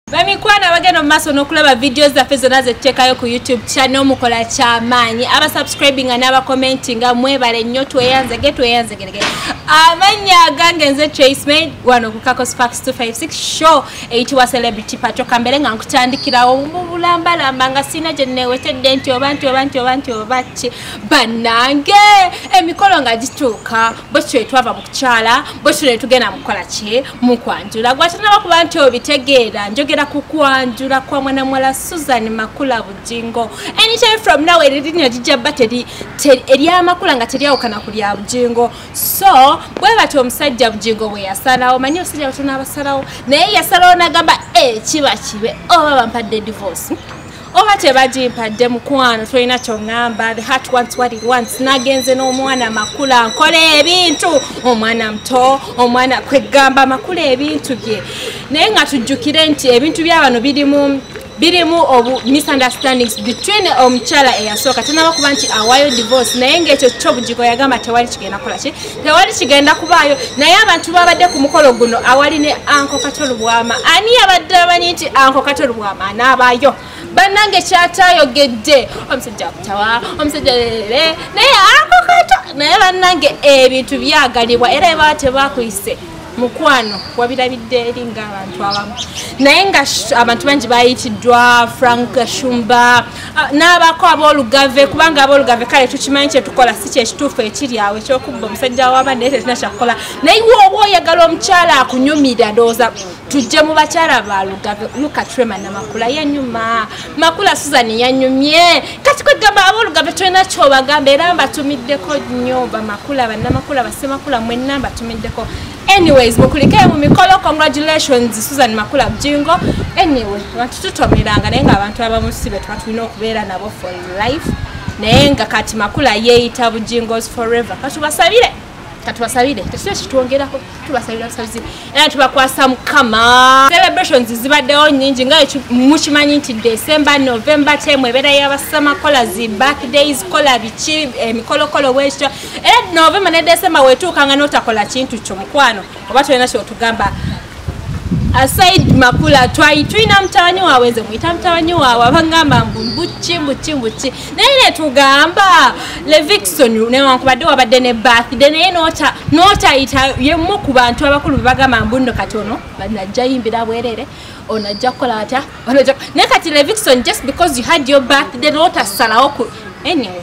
bamikwano abagenda mu maaso n'okulaba vidiyo zaffe zonna zetuteekayo ku youtube channel mukola kyamaanyi abasubscribinga n'abakomentinga mwebale nnyo tweyanzege tweyanzegerege amannya agange nze traceman wano ku kakos fax 256 show eyitibwa celebrity pato kambeere nga nkutandikirawo mu bulambalamba nga sirina gye newetedde nti oba nti oba nti oba nti oba ki bannange emikolo nga gituuka bwekityo etwava mu kukyala bwekityo netugenda mukukola ki mukwanjula gwatanaba kuba nti obitegeera njogera ku kwanjula kwa mwana mwala susan makula bujingo anytime from now eririnya gijja ba eryamakula nga teryawukana ku lya bujingo so bwe batyo omusajja bujingo bwe yasalawo manyi obusajja batona abasalawo naye yasalawo nagamba ekiba eh, kibe oba bampadde divorce oba tebagimpadde mukwano tolina kyoŋamba the heart wants what it wants nagenze n'omwana makula nkola ebintu omwana muto omwana kwegamba makula ebintu bye naye nga tujjukire nti ebintu byabano birimu birimu obu misunderstandings between omukyala eyasooka tanaba kuba nti awayo divorce naye ngaekyo kyo bugiko yagamba tewali kigenda kukola ki tewali kigenda kubaayo naye abantu babadde ku mukolo guno awali ne anko kato lubwama ani yabadde amanyi nti anko kato lubwama anaabaayo bannange kyatayogedde omusajja kutawa omusajja lere naye anko kato naye bannange ebintu byagalibwa era ebaa tebakuyise mukwano wabirabidde eri ngaabantu abamu naye nga abantu bangi bayitiddwa frank shumba Ah, n'abaako ab'olugave kubanga ab'olugave kale tukimanyi kyetukola si kyekituufu ekiri awo ekyokubba omusajja waba naye tetulina kyakukola naye woba oyagala omukyala akunyumira ndowooza tujje mu bakyala ba lugave lukatrema na makula yanyuma makula susan yanyumye kati kwegamba ab'olugave tulina kyobagamba era mbatumiddeko nyo bamakula banamakula basemakula mwenna mbatumiddeko anyways mukulike mu mikolo congratulations susan makula bujingo anyway abantu tutomeranga naye nga abantu abamusibe tuba tulina okubeera nabo for life naye nga kati makula yeeyita bujingos forever katubasabire katubasabire tekisa kitwongerako tubasabira busabizi era tubakwasa mukama celebrations zibaddewo nyingi nga mukimanyi nti december november temu ebeera yabasama kola zi back days kola biki emikolokolo eh, bwekityo era novemba ne decemba wetuukanga notakola kintu kyo mukwano oba tolina kyotugamba aside makula twai tulina mutawanyi wawe nze muyita mutawanyi wawe abangamba mbu mbuki mbuki mbuki naye netugamba levixon newankubadde wabadde ne birthday naye notayita yemu ku bantu abakulu bebagamba mbu nno kati ono najja yimbira bwerere ono ajja kukola atya naye kati levixon just because you had your birthday notasalawo anyway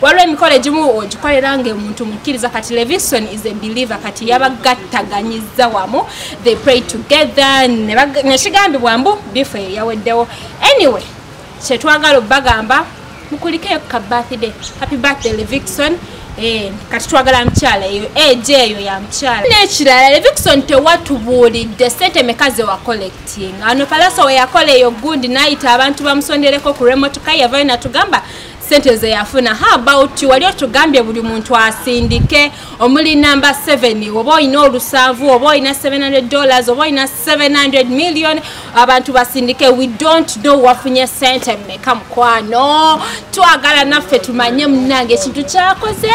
waliwo emikolo egimu ogikolera nga omuntu mukkiriza kati levison is a believer kati yabagattaganyiza wamu they pray together nekigambibwa mbu bifu eyo yaweddewo anyway kyetwagala obagamba mukulikeyo ka birthday happy birthday levison Eh, kati twagala mukyala eyo eje eh, eyo ya mukyala nekirala levixon tewatubuulidde sente meka ze wacollecting ano palaso weyakola eyo gundi nayita abantu bamusondereko ku remotoka yavayo natugamba sente zeyafuna how about wali otugambye buli muntu asindike omuli number 7 oba olina olusanvu oba olina 700 dollars oba olina 700 million abantu basindike we don't know wafunye sente meka mukwano twagala naffe tumanye munange ekintu kyakoze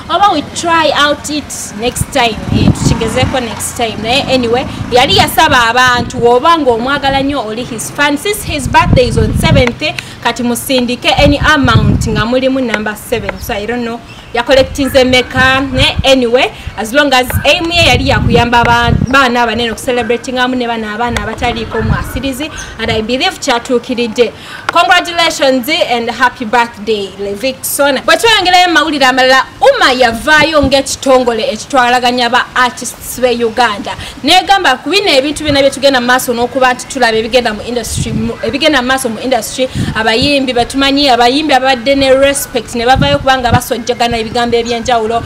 oba we try out it next time eh, tukigezeko next time naye anyway yali yasaba abantu oba ngaomwagala nyo oli his fan since his birthday is on 7th kati musindike any amount nga mulimu number 7 so i don't know yakolectinze meka ne anyway as long as aim ye yali yakuyamba baana abanene okucelebratingamu ne bana abaana abataliiko mwasirizi and i believe kyatuukiridde congratulations and happy birthday levixon bwetweyongerayo mawulire amalala uma yavaayo ngaekitongole ekitwalaganya ba artist sibe uganda negamba ku bino ebintu byona byetugenda mu maaso n'okuba nti tulaba ebigenda mu industry ebigenda mu maaso mu industry abayimbi betumanyi abayimbi ababadde ne respect ne bavayo kubanga basojjagana ebigambo ebyenjawulo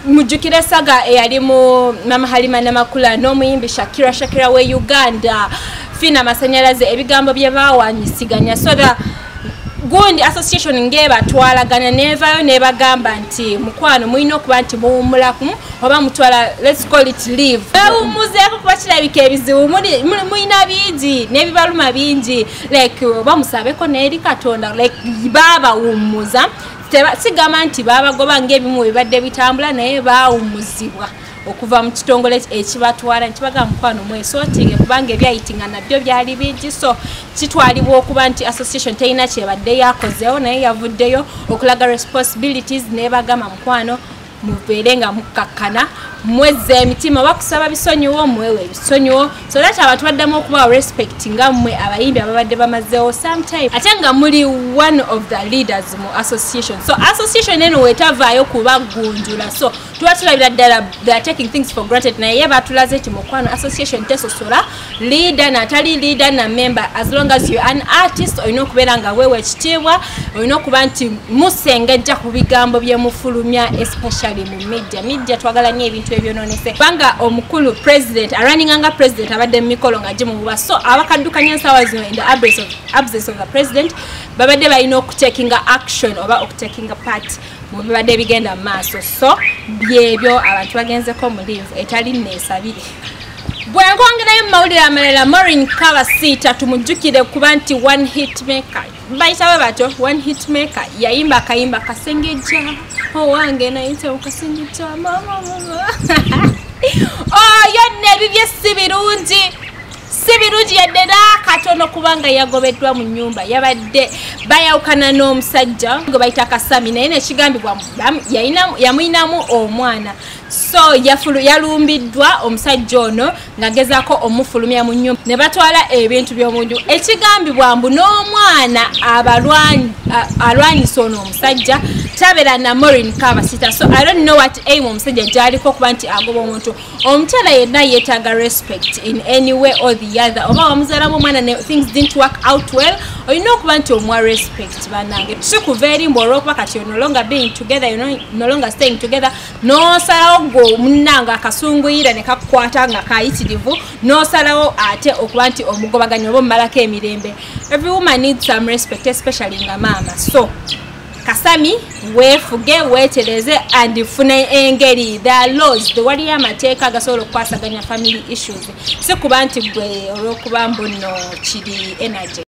mujjukire saga eyali mu mama halima namakula n'omuyimbi shakira shakira we uganda fiina amasanyalaze ebigambo bye bawanyisiganya so that gundi association ngebatwalagana nevayo nebagamba nti mukwano mulina okuba nti muwumulaku oba mutwala lets call it live ewumuzeko kuba kirabika ebizibu mulina bingi nebibaluma bingi like oba musabeko neeri katonda like babawummuza sigamba nti babagoba ngaebimu bibadde bitambula naye bawummuzibwa okuva mu kitongole ekibatwala ntibaga mukwano mwesotinge kubanga ebyayitinga nabyo byali bingi so kitwalibwa okuba nti association terina kyebadde yakozeewo naye yavuddeyo okulaga responsibilities nebagamba mukwano mubeere nga mukkakkana mwezza emitima bakusaba bisonyiwo mwewe ebisonyiwo so that abantu baddamu okubawa respect nga mmwe abayimbi ababadde bamazeewo sometime ate nga muli one of the leaders mu association so association eno wetavaayo kubagunjula so tuba tulabira ddala they are taking things for granted naye batulaze nti mukwano association tesosola leader natali leader na member as long as you an artist olina okubeera nga weewa ekitiibwa olina okuba nti musengejja ku bigambo byemufulumya especially mu media media twagala nyo ebintu ebyononese kubanga omukulu president araninga nga president abadde mu mikolo nga gimububa so abakaddukanya ensaawa zino in the absence of the president babadde balina okutekinga action oba okutekinga party mubibadde bigenda mu maaso so byebyo abantu bagenzeko mu live etali neesabire bwenkwongerayo mu mawulire amalala morin kabasiita tumujjukire kuba nti one hit maker bayitawe batyo one hit maker yayimba akayimba kasengejja owange nayite okasengejja mama oyo oh, nebibye si birungi si birungi yadde nakatono kubanga yagobeddwa mu nyumba yabadde bayawukana n'omusajja gwe bayita kasami naye nekigambibwa yamuyinamu omwana so yalumbiddwa omusajja ono ngagezako omufulumya mu nyumba ne batwala ebintu byomunju ekigambibwa mbu n'omwana alwanyisa ono omusajja tabera na morin kabasita so i don't know what aim omusajja gyaliko okuba nti agoba omuntu omukyala yenna yetaaga respect in any way or the other oba wamuzalamu omwana ne things didn't work out well olina okuba nti omuwa respect banange tusikuva eri mbu olwokuba kati no longer being together you no longer staying together nosalawo gwe munange akasunguyira ne kakukwata nga kayitirivu nosalawo ate okuba nti omugobaganya oba omumalako emirembe every woman needs some respect especially nga maama so kasami weefuge weetereze and fune engeri the laws the waliyo amateeka agasobola okukwasaganya family issues si kuba nti gwe olw'okuba mbuno kiri energy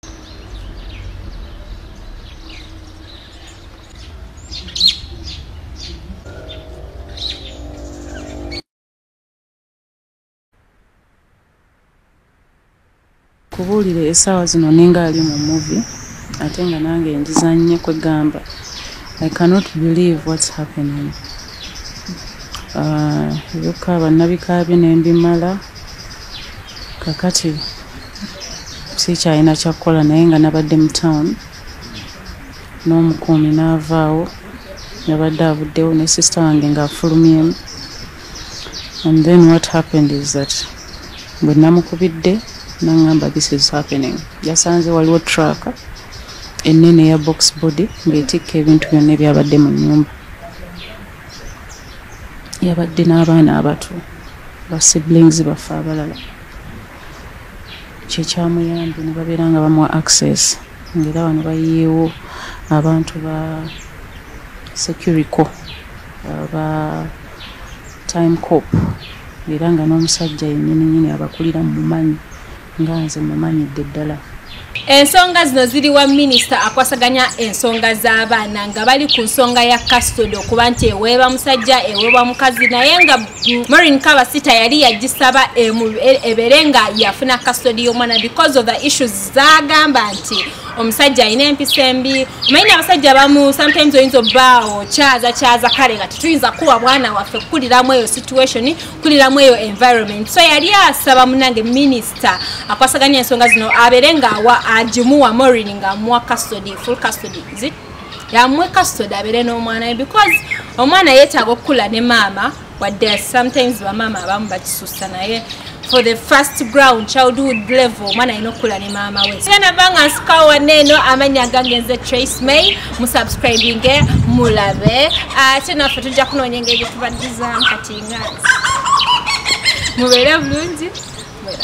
kubuulire esaawa zino ninga ali mu muvi ate nga nange njizanye kwegamba i cannot believe whats happening ah, ebyoka bannabikaabye nembimala kakati sikyalina kyakukola naye nga nabadde mu town n'omukuumi n'avaawo yabadde avuddewo ne sisita wange ng'afulumyemu and then what happened is that bwe namukubidde nangamba this is happening yasanze waliwo truck enene ya box body ngaetikka ebintu byonna ebyabadde mu nyumba yabadde n'abaana abato ba siblings baffe abalala kyekyamuyambi ne babeera nga bamuwa access ngaera wano bayiyeewo abantu ba securico ba time cop era nga n'omusajja yennyini nyini abakulira mumanyi nga nze mumanyidde ddala ensonga zino ziri wa minisita akwasaganya ensonga z'abaana nga bali ku nsonga ya kasitode okuba nti eweeba musajja eweebwa mukazi naye nga morin kabasita yali yagisaba e, ebeere nga yafuna kasitode y'omwana because of the issues zagamba nti omusajja alina empisa embi omanyina abasajja bamu sometimes oyinza obaawo kyaza kyaza kale nga tetuyinza kuwa bwana waffe kukuliramu eyo situation kukuliramu eyo environment so yali asaba munange minisita akwasaganya ensonga zino abeere ngaawa agimuwa morin nga amuwa custody full custody zit yamuwe custody abeere n'omwana we because omwana yeetaaga okukula ne maama wadde sometimes bamaama abamu bakisusa naye for the first ground childhood level omwana alina okukula ne maama we genda banga nsikawo waneeno amanya gange nze trace may musubscribinge mulabe ate naffe tujja kunoonya engeri gyetubaddizamu kati nga mubeere bulungi mwera